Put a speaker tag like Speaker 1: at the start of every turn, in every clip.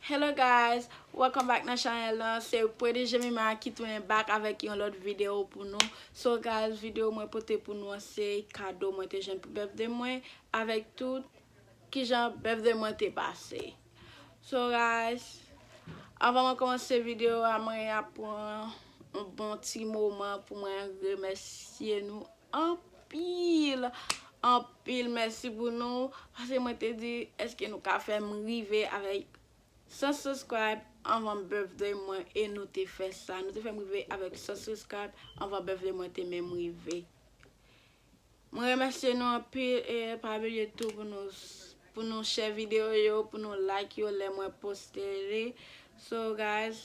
Speaker 1: Hello
Speaker 2: guys welcome back nan chanel lan se pretty jemima ki tounen back avèk yon lòt video pou nou so guys video mwen pote pou nou an se kado mwen te jwenn pou birthday mwen avèk tout kijan birthday mwen te pase so guys avan mwen komanse video a mwen ap pran yon bon ti moman pou mwen remèsye nou anpil anpil mèsi pou nou pase mwen te di eske nou ka fèm rive avèk 100 subscribe anvan birthday mwen e nou te fè sa nou te fèm rive avèk 100 subscribe anvan birthday mwen te menm rive mwen remèsye nou anpil e pa bliye tou pou nou pou nou share video yo pou nou like yo lè mwen poste li so guys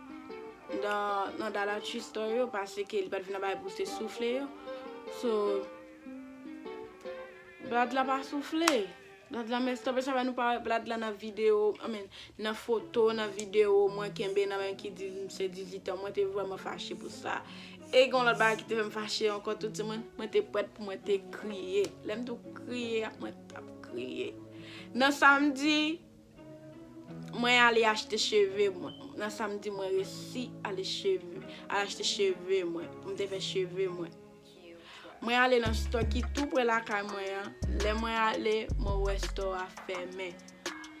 Speaker 2: nan dollar tree store yo paske li pat vin nan bagay pou se soufle yo so blad la pa soufle blad la messed up e sa fè nou pa wè blad la nan video I mean nan foto nan video mwen kenbe nan men ki di se 18 an mwen te vrèman fache pou sa e gen yon lòt bagay ki te fèm fache ankò tou timoun mwen te prèt pou mwen te kriye lèm tou kriye mwen tap kriye nan samdi Mwen ale achte cheve mwen. Nan samedi mwen resi ale cheve. Al achte cheve mwen. M te fè cheve mwen. Mwen ale nan store ki tou pre lakay mwen an. Lè mwen ale, mwen wè store a fèmen.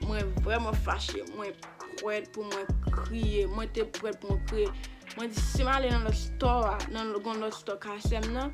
Speaker 2: Mwen vreman fache. Mwen pret pou mwen kriye. Mwen te pret pou mwen kriye. Mwen di si m ale nan lot store a, nan gon lot store kasem nan.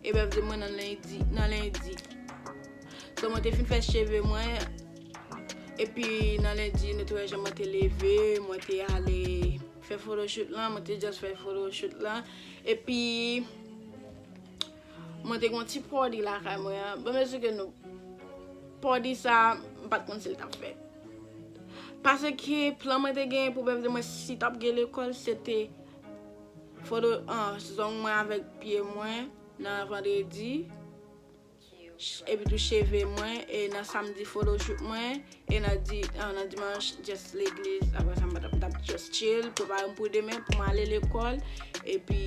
Speaker 2: E bèfde mwen nan lendi nan lendi So mwen te fin fè cheve mwen Epi nan lendi nou te wè jan mwen te leve Mwen te ale fè photoshoot lan Mwen te just fè photoshoot lan Epi Mwen te gen yon ti party lakay mwen an Bon mwen souke nou Party sa Mwen pat konn sil tap fèt Paseke plan mwen te gen pou bèfde mwen si tap gen lekòl se te Foto 1 Zong mwen avèk pye mwen nan vandredi Epitou cheve mwen e nan samdi Photoshoot mwen e nan dimanch just legliz Aprèsa m pa tap m tap just chill Prepare m pou demen pou m ale lekòl Epi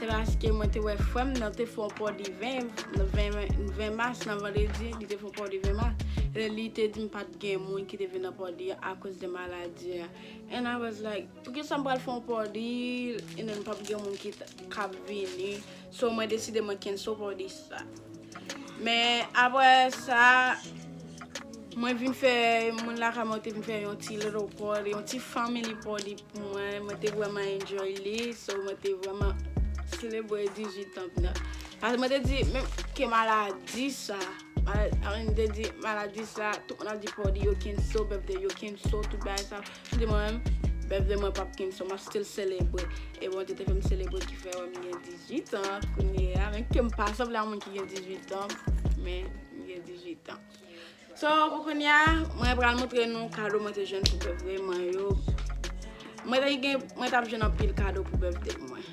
Speaker 2: Se paske mwen te wè frè m nan te fè yon po de 20 mas nan vandredi, li te fè yon po de 20 mas, e li te di m pa t gen moun ki te vin nan po de a akoz de maladi a. And I was like, poukisa m pral fè yon po de and then pa p gen moun ki ka vini? So mwen deside mwen cancel po de sa. Men aprè sa, mwen vin fè, moun lakay mwen te vin fè yon ti little po de, yon ti family po de. Mwen mwen te vreman enjoy li so mwen te vreman selebre 18 ans mwen. Paske mwen te di menm ke maladi sa, mwen te di maladi sa tout moun ap di pou yo kenso bèfde yo kenso tout bagay sa. Mwen di mwen menm bèfde mwen pap kenso map still selebre. E Bondye te fèm selebre ki fè wèm gen 18 ans kounye a menm kem pa sanble a moun ki gen 18 ans men mwen gen 18 ans. So pou kounya mwen pral moutre nou kado mwen te jwenn pou bèfde mwen yo Mwen te gen, mwen tap jwenn anpil kado pou bèfde mwen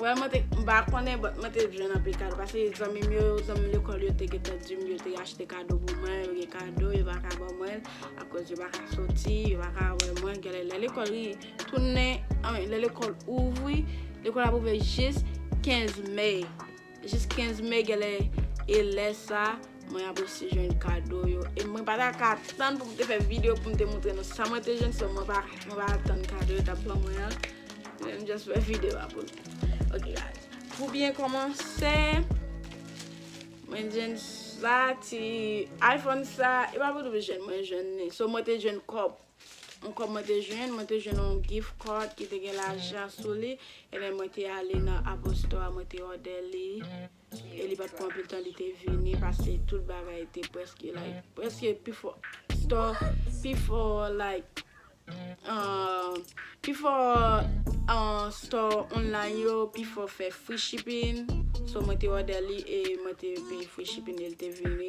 Speaker 2: Well mwen te, m pa konnen but mwen te jwenn anpil kado Pase zanmim yo, zanmi lekòl yo te gentan dim yo te achte kado pou mwen Yo gen kado yo pa ka ban mwen akoz yo pa ka soti, yo pa ka wè mwen Gèlè lè lekòl ri tounen, anmwe lè lekòl ouvri Lekòl ap ouvè jis 15 May Jis 15 mai genlè e lè sa mwen ap osi jwenn kado yo e mwen pa ta ka tann pou m te fè video pou m te montre nou sa mwen te jwenn so mwen pa mwen pa atann kado yo t ap ban mwen an mwen m just fè video a pou nou ok guys pou byen kòmanse mwen jwenn sa ti iphone sa e pa pou nou jwenn mwen jwenn li so mwen te jwenn kòb M kòm mwen te jwenn, mwen te jwenn yon gift card ki te gen lajan sou li, ebyen mwen te ale nan Apple store a mwen te òdè li, e li pat pran anpil tan li te vini paske tout bagay te prèske like, prèske pi fò store, pi fò like um pi fò um store online yo pi fò fè free shipping, so mwen te òdè li e mwen te peye free shipping e li te vini.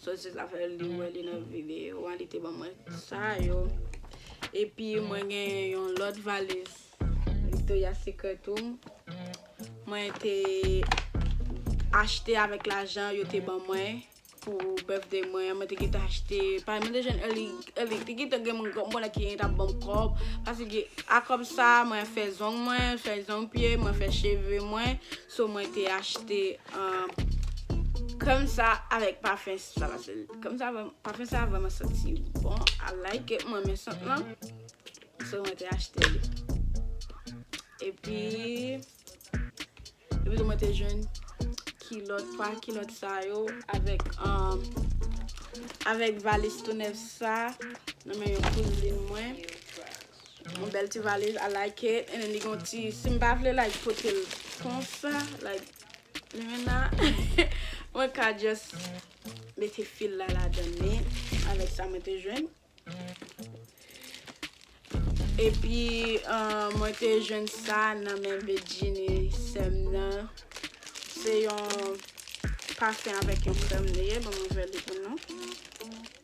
Speaker 2: Sosis la fè li wè li nan video an li te ban mwen sa yo epi mwen gen yon lòt valiz Victoria Secret tou mwen te achte avèk lajan yo te ban mwen pou birthday mwen an mwen te gentan achte pa mwen te jwenn early te gentan gen moun granmoun la ki gentan ap ban m kòb paske a kòb sa mwen fè zong mwen fè zong pye mwen fè cheve mwen So mwen te achte krèm sa avèk pafen sa paske krèm sa pafen sa vrèman santi bon I like it mwen renmen sant lan so mwen te achte li epi epi tou mwen te jwenn kilòt 3 kilòt sa yo avèk avèk valis tou nèf sa nan men yon kouzin mwen. Yon bèl ti valiz I like it and then li gen yon ti si m pa vle like pote l konsa like li menm nan mwen ka just mete fil la ladan li avèk sa mwen te jwenn epi mwen te jwenn sa nan men Bedjine sè m nan se yon pafen avèk yon krèm li ye banm ouvè li pou nou.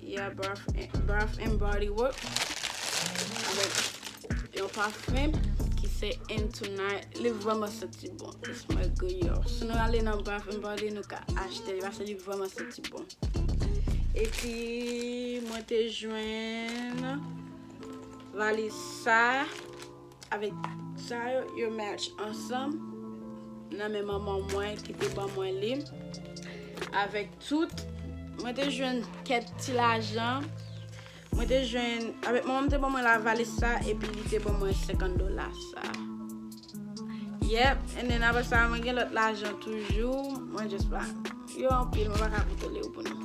Speaker 2: Yeah bath and body works avèk yon pafim ki se into night li vreman santi bon li smell good yo si nou ale nan bath and body nou ka achte li paske li vreman santi bon epi mwen te jwenn valiz sa Avèk sa yo, yo match ansanm nan men manman mwen ki te ban mwen li. Avèk tout, mwen te jwenn kèk ti lajan. Mwen te jwenn, avèk manman mwen te ban mwen la valis sa, epi li te ban mwen 50 dola sa. Yep, and then apre sa, mwen gen lòt lajan toujou. Mwen just pa, yo anpil, mwen pa ka kontole yo pou nou.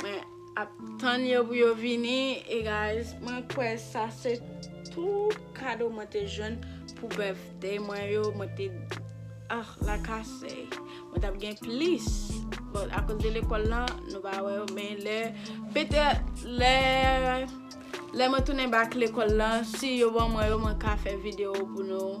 Speaker 2: Mwen ap tann yo pou yo vini e guys mwen kwè sa se tout kado mwen te jwenn pou birthday mwen yo mwen te ah la kase mwen tap gen plis bon akoz de lekòl lan nou pa wè yo men lè petè lè lè mwen tounen bak lekòl lan si yo ban mwen yo mwen ka fè video pou nou.